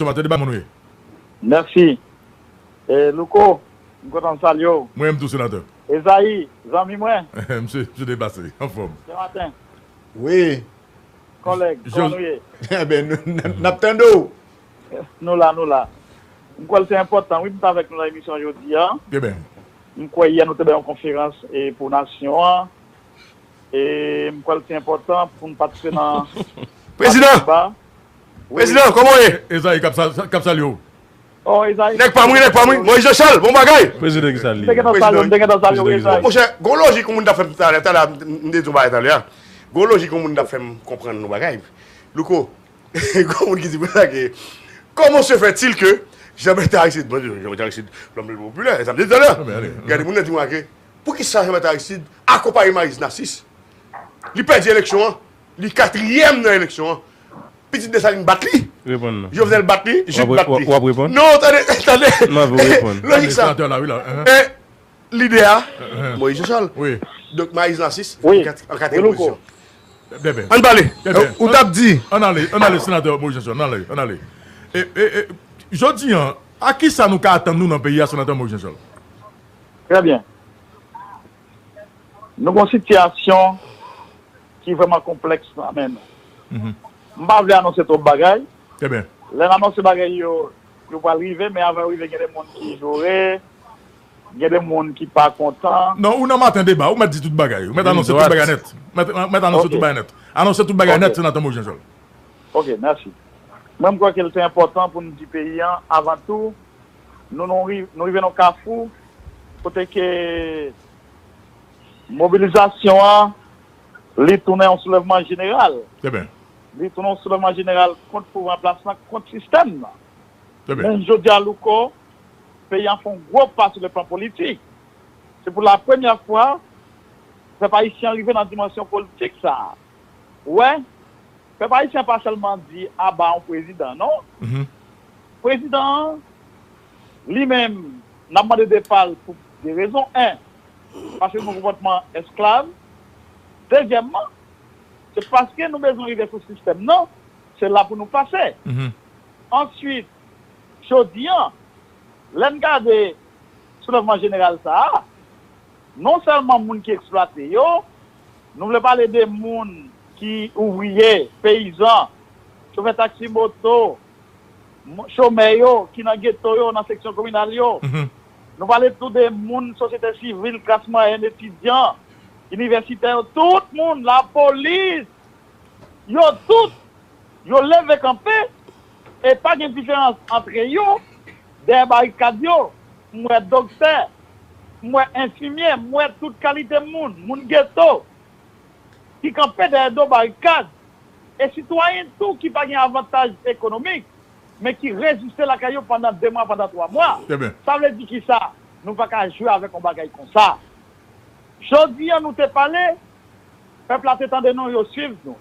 Somatè de ba moun ou ye? Mèsi. E Louko, m kontan m salye w. Mwen menm tou Senatè. Ezayi, zanmi mwen. Msye, msye byen pase. Anfòm. Sen Maten. Wi. Kòlèg, kòman nou ye? Enben, n ap tande w. Nou la, nou la. M kwè l se enpòtan wi pou m ta avèk nou nan emisyon jodi a. Trè byen. M kwè yè nou te bay yon konferans pou nasyon an. E m kwè l se enpòtan pou nou patisipe nan. Prezidan! Prezidan, kòman w ye? Ezayi k ap salye w. Nèg pa m wi, nèg pa m wi. Moyiz Janchal, bon bagay! Prezidan, kisa l ye? Prezidan, kisa l ye? Monchè, gon lojik yon moun t ap fè m talè. Talè a, m te di yon bagay talè a. Gon lojik yon moun t ap fè m konprann yon bagay. Louko, gon moun ki di konsa ke, Kòman se fè til ke Janbète Aristid, mwen di, Janbète Aristid, lòm le pli popilè, e sa m te di talè a. Gade, moun nan di mwen ke, Poukisa Janbète Aristid akonpaye Mariz Nasis? Li pèdi eleksyon an. Li katriyèm nan eleksyon an. Pitit Desalin bat li. Jovenel bat li. Jude bat li. Non, tande, tande. Lojik sa. Lidè a, Moïse Jean-Charles. Donk Maryse Narcisse an katriyèm pozisyon. An n pale. Ou t ap di. An n ale, an n ale senatè Moïse Jean-Charles. An n ale, an n ale. Jodi an, a kisa nou ka atann nou nan peyi a senatè Moïse Jean-Charles? Trè byen. Nou gon sitiyasyon ki vrèman konplèks nan men nou. M pa vle anonse twòp bagay. Lè n anonse bagay yo, yo pral rive men avan yo rive gen de moun ki joure, gen de moun ki pa kontan. Non, ou nan maten deba, ou mèt di tout bagay. Ou mèt anonse tout bagay nèt. Ou mèt anonse tout bagay nèt. Anonse tout bagay nèt, Senatè Moïse Jean-Charles. Ok, mèsi. Mwen m kwè ke l te enpòtan pou n di peyi an avan tou Nou rive nan yon kafou kote ke mobilizasyon an li tounen yon soulèvman jeneral. Li tounen yon soulèvman jeneral kont pouvwa an plas lan, kont sistèm nan. Jounen jodi a Louko, peyi an fè yon gwo pa sou le plan politik. Se pou la premyè fwa pèp ayisyen an rive nan dimansyon politik sa a. Ou wè? Pèp Ayisyen pa sèlman di aba yon prezidan non. Prezidan an li menm n ap mande depa l pou 2 rezon 1 paske nou konpòtman esklav dezyèmman se paske nou bezwen rive sou sistèm nan se la pou nou pase answit jodi an lè n gade soulèvman jeneral sa a Non sèlman moun ki eksplwate yo, nou vle pale de moun ki ouvriye, peyizan, chofè taksi moto, chomè yo ki nan geto yo, nan seksyon kominal yo. Nou pale tou de moun sosyete sivil, klas mwayèn, etidyan, inivèsitè yo, tout moun, lapolis, yo tout, yo leve kanpe e pa gen diferans antre yo dèyè barikad yo. M wè doktè, m wè enfimyè, m wè tout kalite moun, moun geto, ki kanpe dèyè do barikad, e sitwayen tou ki pa gen avantaj ekonomik, men ki reziste lakay yo pandan 2 mwa, pandan 3 mwa. Sa vle di ki sa? Nou pa ka jwe avèk yon bagay kon sa. Jodi an nou te pale, pèp la te tande nou, yo swiv nou.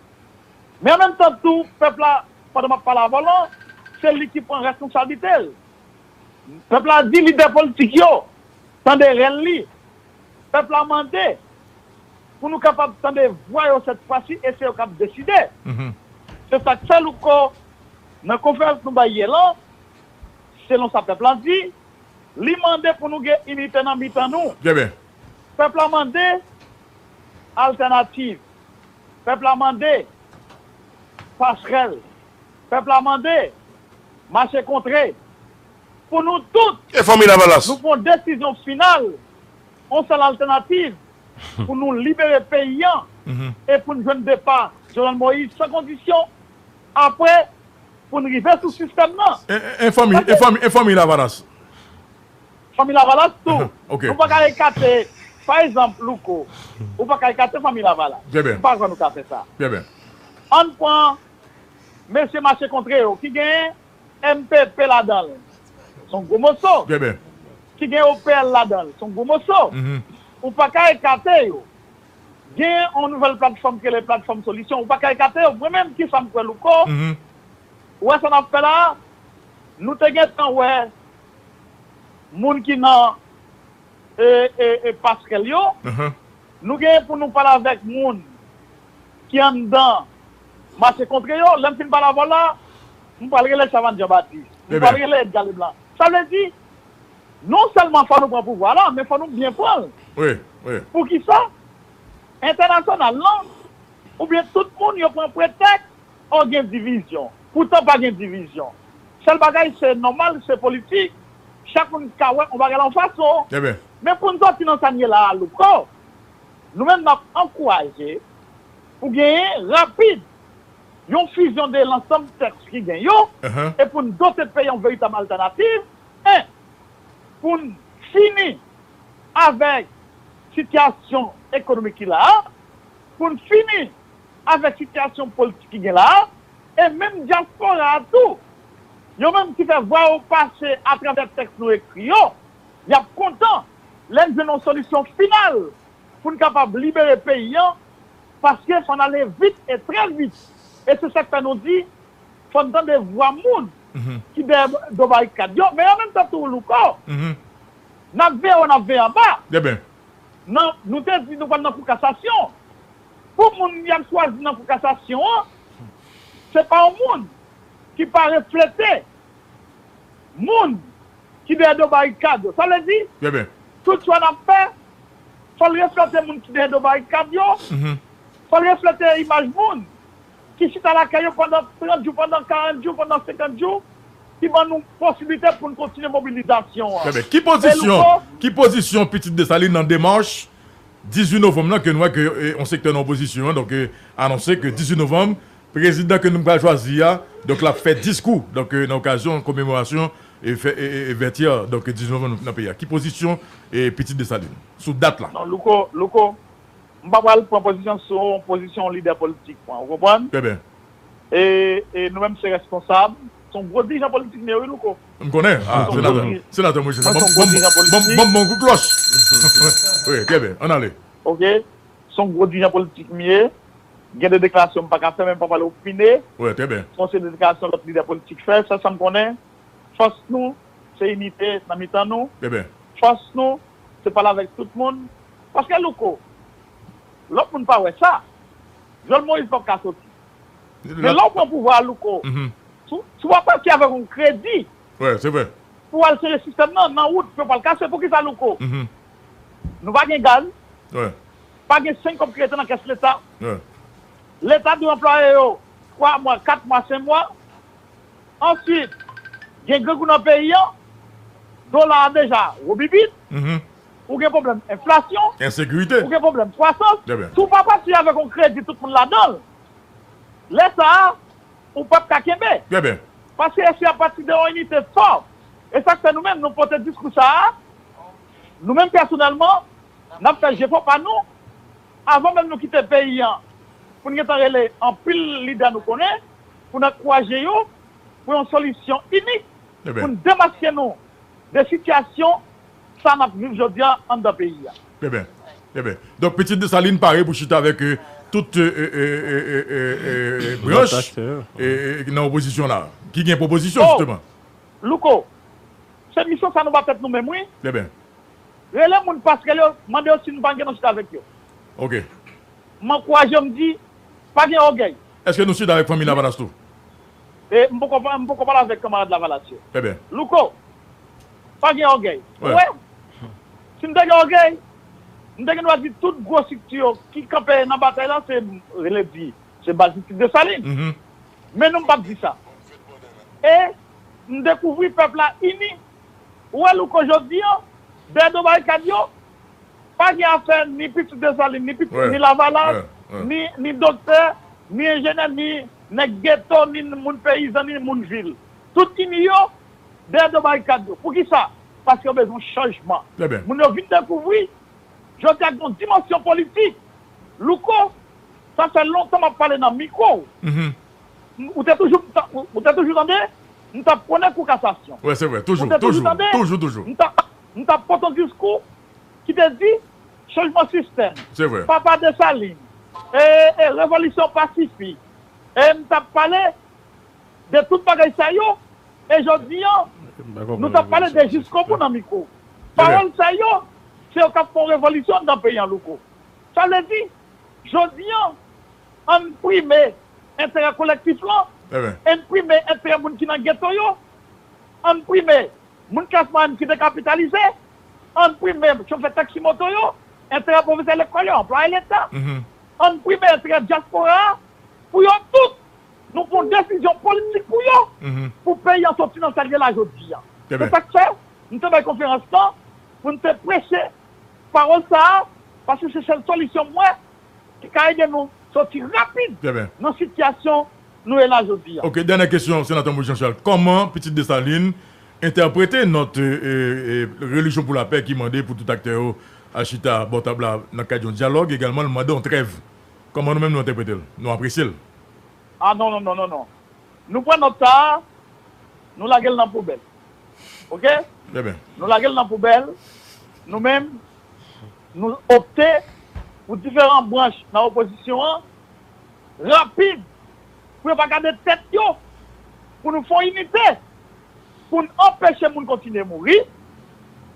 Men an menm tan tou, pèp la, pandan m ap pale avè w lan, se li ki pran reskonsablite l. Pèp la di lidè politik yo tande rèl li. Pèp la mande pou nou kapab tande vwa yo sèt fwa si e se yo k ap deside. Se sa k fè Louko nan konferans nou bay yè lan, selon sa pèp la di, li mande pou nou gen inite nan mitan nou. Pèp la mande altènativ. Pèp la mande pasrèl. Pèp la mande. Mache kontre! Pou nou tout! E Fanmi Lavalas? Nou pran desizyon final, on sèl altènativ pou nou libere peyi an e pou n jwenn depa Jovenel Moïse san kondisyon, apre pou n rive sou sistèm nan. E Fanmi, e Fanmi, e Fanmi Lavalas? Fanmi Lavalas tou. Nou pa ka ekate, pa ezanp, Louko, ou pa ka ekate Fanmi Lavalas. Trè byen. M pa kwè nou ka fè sa. Trè byen. An n pran Mesye mache kontre yo ki gen mpp ladan l son gwo moso, ki gen opl ladan l son gwo moso, ou pa ka ekate yo. Gen yon nouvèl platfòm ki rele platfòm solisyon, ou pa ka ekate yo. Mwen menm kisa m kwè Louko, ou wè sa n ap fè la a, nou te gen tan wè moun ki nan pasrèl yo, nou gen pou nou pale avèk moun ki anndan mache kontre yo, lè m fin pale avè w la, m pral rele Chavannes Jean-Baptiste, m pral rele Edgar Leblanc. Sa vle di, non sèlman fò nou pran pouvwa la, men fò nou byen pran l. Pou ki sa? Entènasyonal lan, oubyen tout moun yo pran pretèks, oh gen divizyon. Poutan pa gen divizyon. Sèl bagay se nòmal, se politik, chak moun ka wè yon bagay la yon fason. Men pou n sòti nan sa n ye la a, Louko, nou menm n ap ankouraje, Pou genyen, rapid, yon fizyon de lansanm tèks ki gen yo, e pou n dote peyi yon veritab altènativ, e pou n fini avèk sitiyasyon ekonomik ki la a, pou n fini avèk sitiyasyon politik ki gen la a, e menm dyaspora a tou, yo menm ki fè vwa yo pase atravè tèks nou ekri yo, y ap kontan lè n jwenn yon solisyon final pou n kapab libere peyi an paske fò n ale vit e trè vit e se sa k fè nou di fò n tande vwa moun ki dèyè do barikad yo men an menm tan tou Louko n ap veye wo n ap veye anba nan nou te di nou pral nan kou kasasyon pou moun y ap chwazi nan kou kasasyon an se pa yon moun ki pa reflete moun ki dèyè do barikad yo sa vle di tout chwa n ap fè Fò l reflete moun ki dèyè do barikad yo. Fò l reflete imaj moun ki chita lakay yo pandan 30 jou, pandan 40 jou, pandan 50 jou, ki ban nou posiblite pou n kontinye mobilizasyon an. Ki pozisyon, ki pozisyon pitit Desalin nan demach 18 novanm lan ke nou wè ke yon sektè nan opozisyon an donk anonse ke 18 novanm Prezidan ke nou pral chwazi a, donk lap fè diskou, donk nan okazyon komemorasyon vètyè, donk 19 novanm nan peyi a. Ki pozisyon Pitit Desalin sou dat la? Non Louko, Louko, m pa pral pran pozisyon sou pozisyon yon lidè politik mwen, ou konprann? Trè byen. E, e nou menm se rèsponsab, se yon gwo dirijan politik m ye wi Louko. M konnen, a senatè, senatè mwen se sa, banm, banm, banm yon kout klòch, wi, trè byen, ann ale. Ok, Son gwo dirijan politik m ye. Gen de deklarasyon m pa ka fè men m pa pale opine sou yon seri de deklarasyon lòt lidè politik fè. Sèl sa m konnen, fòs nou se inite nan mitan nou. Fòs nou se pale avèk tout moun. Paske Louko, lòt moun pa wè sa. Vyòl Moïse pap ka soti. Men lè w pran pouvwa a Louko, si w pa pati avèk yon kredi pou w al sere sistèm nan, nan wout pou yo pa al kase, poukisa Louko? Nou pa gen gaz. Pa gen senk kòb ki rete nan kès leta. Leta dwe anplwaye yo twa mwa, kat mwa, senk mwa. Answit, gen grangou nan peyi an. Dola a deja wobibit. Ou gen pwoblèm enflasyon. Ou gen pwoblèm kwasans. Si w pa pati avèk yon kredi tout moun ladan l, lè sa a, ou pap ka kenbe. Paske eseye a pati de yon inite fò. E sa k fè nou menm nou pote diskou sa a Nou menm pèsonèlman, n ap fè jefò pa nou, avan menm nou kite peyi an, pou n gentan rele anpil lidè nou konnen, pou n ankouraje yo pou yon solisyon inik, pou n demaske nou de sitiyasyon sa a n ap viv jodi a anndan peyi a. Trè byen. Trè byen. Donk Pitit Desalin pare pou chita avèk tout branch ki nan opozisyon la a, ki gen pwopozisyon jisteman. O! Louko, Se misyon sa nou pa fèt nou menm wi. Eben. Rele moun pasrèl yo, mande yo si nou pa gen anchita avèk yo. Ok. M ankouraje yo, m di, Pa gen ògèy. Eske nou chita avèk fanmi Lavalas tou? E, m poko m poko pale avèk kanmarad Lavalas yo. Eben. Louko, Pa gen ògèy. Ou wè? Si m te gen ògèy, m te gen dwa di tout gwo strikti yo ki kanpe nan batay la se, rele di, se baz District Dessalines. Men non m pap di sa. E m dekouvri pèp la ini. Ou wè Louko jodi an, dèyè do barikad yo, pa gen afè ni pitit Desalin, ni pitit, ni Lavalas, ni, ni doktè, ni enjenè, ni nèg geto, ni moun peyizan, ni moun vil. Tout ini yo dèyè do barikad yo. Poukisa? Paske yo bezwen chanjman. Moun yo vin dekouvri, jodi a gen yon dimansyon politik. Louko Sa fè lontan m ap pale nan mikwo ou. Ou te toujou ou te toujou tande m t ap pwone kou kasasyon. Ou te toujou tande m t ap pot on diskou ki te di chanjman sistèm, papa Desalin, e revolisyon pa sifi. E m t ap pale de tout bagay sa yo e jodi an nou t ap pale de jiskobou nan mikwo ou. Pawòl sa yo se yo k ap fè on revolisyon anndan peyi an Louko. Sa vle di, jodi an, an n prime enterè kolektif lan, an n prime enterè moun ki nan geto yo, an n prime moun klas mwayèn ki dekapitalize, an n prime chofè taksi moto yo, enterè pwofesè lekòl yo, anplwaye leta, an n prime enterè dyaspora a, pou yo tout, nou pran desizyon politik pou yo, pou peyi an soti nan sa l ye la jodi an. Se sa k fè, nou te bay konferans lan, pou n te preche Pawòl sa a, paske se sèl solisyon m wè ki ka ede nou soti rapid nan sitiyasyon nou ye la jodi a. Ok, dènyè kesyon Senatè Moise Jean Charles, kòman Pitit Dessalines entèprete nòt Religion pour la paix ki mande pou tout aktè yo al chita bò tab la nan kad yon dyalòg, egalman l mande yon trèv. Kòman nou menm nou entèprete l, nou apresye l? Ah non non non non non. Nou pran nòt sa a, nou lage l nan poubèl. ok nou lagel nan poubèl nou menm nou opte pou diferan branch nan opozisyon an rapid pou yo pa gade tèt yo pou nou fon inite poun anpeche moun kontinye mouri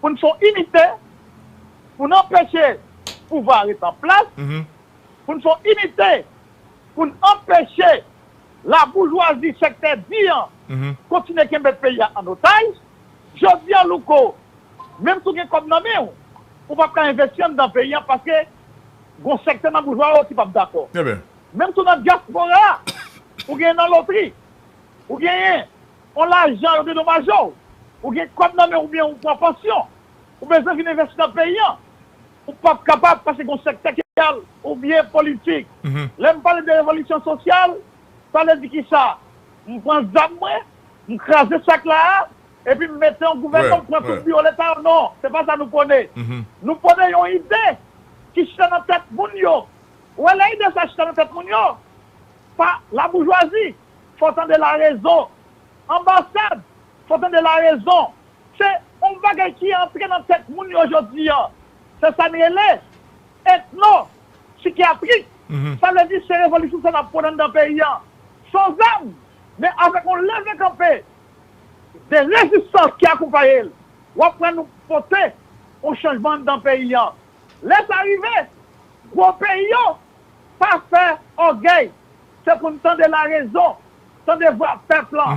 poun fon inite poun anpeche pouvwa ret an plas poun fon inite pou n anpeche laboujwazi sektè di an kontinye kenbe peyi a an otaj. Jodi a Louko, menm si w gen kòb nan men w, ou pap ka envesti anndan peyi a paske gon sektè nan boujwa yo ki pap dakò. Menm tou nan dyaspora a, ou genyen nan lotri, ou genyen on lajan yo dedomaje w, ou gen kòb nan men w oubyen ou pran pansyon, ou bezwen vin envesti nan peyi a, Ou pap kapab pase gen yon sektè ki al oubyen politik. Lè m pale de revolisyon sosyal, sa vle di ki sa? M pran zam mwen, m kraze sak la a, epi m mete yon gouvènman pran tout biwo leta yo? Non, se pa sa nou pwone. Nou pwone yon ide ki chita nan tèt moun yo. Ou wè lè ide sa chita nan tèt moun yo, pa laboujwazi, fò w tande larezon. Anbasad, fò w tande larezon. Se yon bagay ki antre nan tèt moun yo jodi an. Se sa n rele etno sikyatrik. Sa vle di se revolisyon sa n ap pran anndan peyi an san zam men avèk yon leve kanpe de rezistans ki akonpaye l. W ap wè nou pote yon chanjman anndan peyi an. Lè sa rive, gwo peyi yo pa fè ògèy. Se pou n tande larezon. Tande vwa pèp la.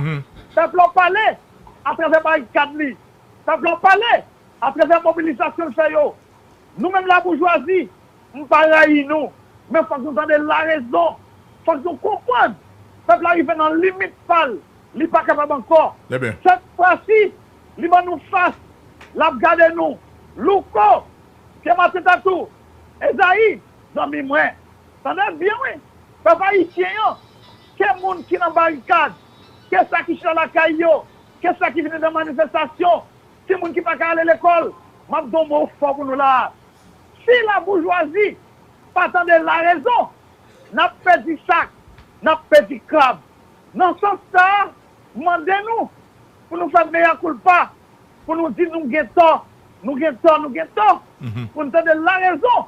Pèp la pale atravè barikad li. Pèp la pale atravè mobilizasyon l fè yo. Nou menm laboujwazi, m pa rayi nou, men fòk nou tande larezon. Fòk nou konprann pèp la rive nan limit pa l, li pa kapab ankò. Sèt fwasi, li ban nou fas, l ap gade nou. Louko, Pye Mateta tou. Ezayi, zanmi mwen. Tande byen wi, pèp ayisyen an. Ke moun ki nan barikad, ke sa ki chita lakay yo, ke sa ki vini nan manifestasyon, timoun ki pa ka ale lekòl, m ap di yon mo fò pou nou la a. Si laboujwazi pa tande larezon, n ap pèdi sak, n ap pèdi krab. Nan sans sa a, m mande nou pou nou fè mea culpa, pou nou di nou gen tò, nou gen tò, nou gen tò, pou n tande larezon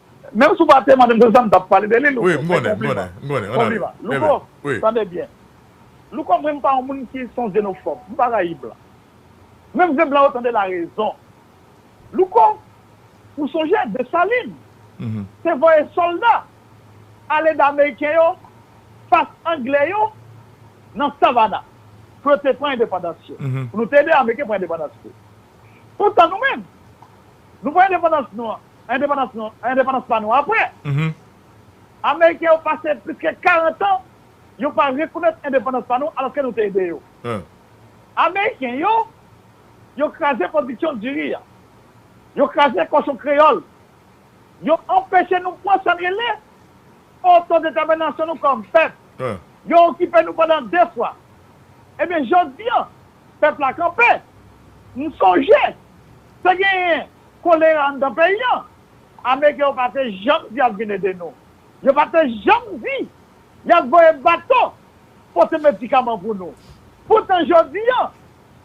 Menm si w pa te mande m se sa m t ap pale de li Louko, men konpliman Konpliman Louko, tande byen Louko mwen m pa yon moun ki son zenofòb m pa rayi blan Men m vle blan yo tande larezon Louko, ou sonje Desalin te voye sòlda al ede ameriken yo fas angle yo nan Savana pou yo te pran endepandans yo Pou nou te ede ameriken pran endepandans li Poutan nou menm nou pran endepandans nou an endepandans nou, endepandans pa nou apre. Ameriken yo pase plis ke 40 an yo pa rekonèt endepandans pa nou alòske nou te ede yo. Ameriken yo, yo kraze pwodiksyon diri a. Yo kraze kòchon kreyòl. Yo anpeche nou pran sa n rele otodetèminasyon nou kòm pèp. Yo okipe nou pandan 2 fwa. Ebyen jodi an, pèp la kanpe. M sonje te genyen Kolera anndan peyi an. Ameriken yo pa te janm di y ap vin ede nou. Yo pa te janm di y ap voye bato pote medikaman pou nou. Poutan jodi an,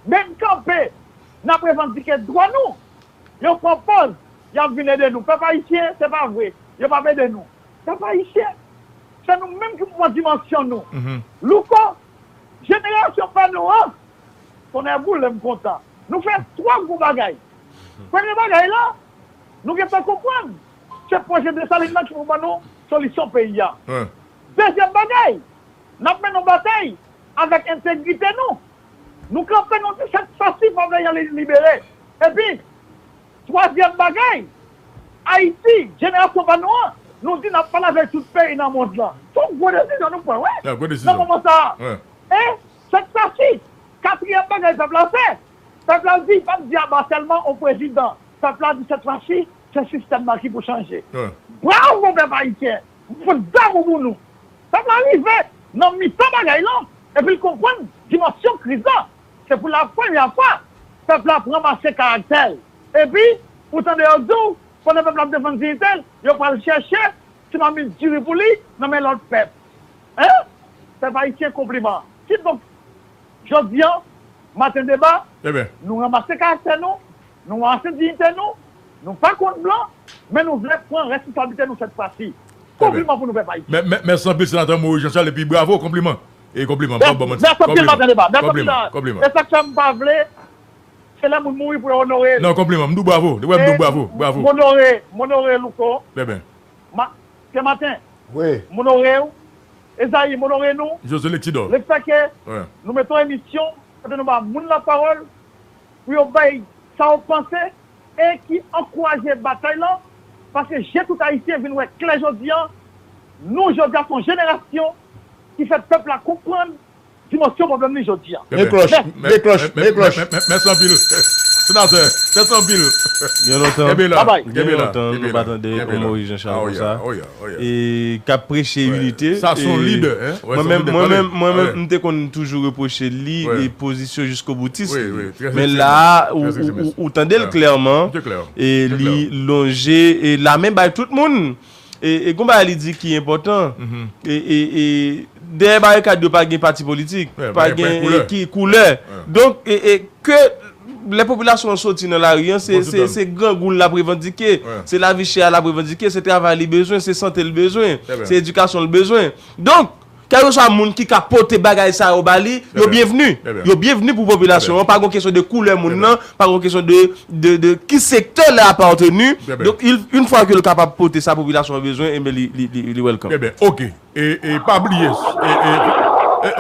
menm kanpe n ap revandike dwa nou, yo pran pòz y ap vin ede nou. Pèp ayisyen, se pa vre yo p ap ede nou. Pèp ayisyen, se nou menm ki pou pran dimansyon nou. Louko, Jenerasyon pa nou an! Tonnè boule m kontan. Nou fè twò gwo bagay. Premye bagay la, nou gen tan konprann, se pwojè Desalin nan ki pou ban nou solisyon peyi a. Dezyèm bagay, n ap mennen yon batay avèk entegrite nou. Nou kanpe nou di sèt sa si favè Jan Lili libere. Epi, twazyèm bagay, Ayiti, jenerasyon pa nou an, nou di n ap pale avèk tout peyi nan mond lan. Se yon gwo desizyon nou pran wi nan moman sa a. E, sèt sa si, katriyèm bagay pèp la fè, Pèp la di, pa di a ba sèlman ou prezidan, pèp la di sèt fwa si se sistèm nan ki pou chanje. Bravo pèp ayisyen, m fout damou pou nou. Pèp la rive nan mitan bagay lan epi l konprann dimansyon kriz la. Se pou la premyè fwa pèp la ap ranmase karaktè l. Epi ou tande yo di w pandan pèp la ap defann diyite l, yo pral chèche ti mamit diri pou li nan men lòt pèp. Hein! Pèp ayisyen konpliman. Kidonk, Jodi an, maten deba, nou ranmase karaktè nou, nou ranmase diyite nou, nou pa kont blan, men nou vle pran responsablite nou sèt fwa si. Konpliman pou nou pèp Ayisyen. Mèsi anpil Senatè Moise Jean Charles epi bravo, konpliman. E konpliman, m pap ba w manti. Mèsi anpil maten deba. Mèsi anpil. Konpliman. E sa k fè m pa vle, se lè moun mouri pou yo onore l. Non, konpliman. M di w bravo. Depi wè m di w bravo. Bravo. M onore, m onore Louko. Bèben. Senmaten. Wi. M onore w. Esaïe, m onore nou lefè ke nou mete yon emisyon kote nou ba moun lapawòl pou yo bay sa yo panse e ki ankouraje batay lan paske je tout Ayisyen vin wè klè jodi an. Nou jodi a se yon jenerasyon ki fè pèp la konprann Dimansyon pwoblèm li jodi a. Men klòch, men klòch, men klòch. Mèsi anpil Senatè, mèsi anpil. Gen lontan, gen lontan nou pa tande yon Moris Janchal konsa e k ap preche inite. Sa s on lidè. Mwen menm, mwen menm, mwen menm m te konn toujou repwoche li pozisyon jiskoboutis li. Men la a ou tande l klèman e li lonje lamen bay tout moun. E gon bagay li di ki enpòtan, e dèyè barikad yo pa gen pati politik, pa gen koulè. Donk, ke lè popilasyon an soti nan lari an, se grangou l ap revandike, se lavi chè a l ap revandike, se travay li bezwen, se sante l bezwen, se edikasyon l bezwen. Donk! Kèlkeswa moun ki ka pote bagay sa yo ba li, yo byenvni. Yo byenvni pou popilasyon an, pa gon kesyon de koulè moun nan, pa gon kesyon de ki sektè li apateni, donk yn fwa ke li kapab pote sa popilasyon an bezwen, enben li welcome. Enben ok, e pa bliye.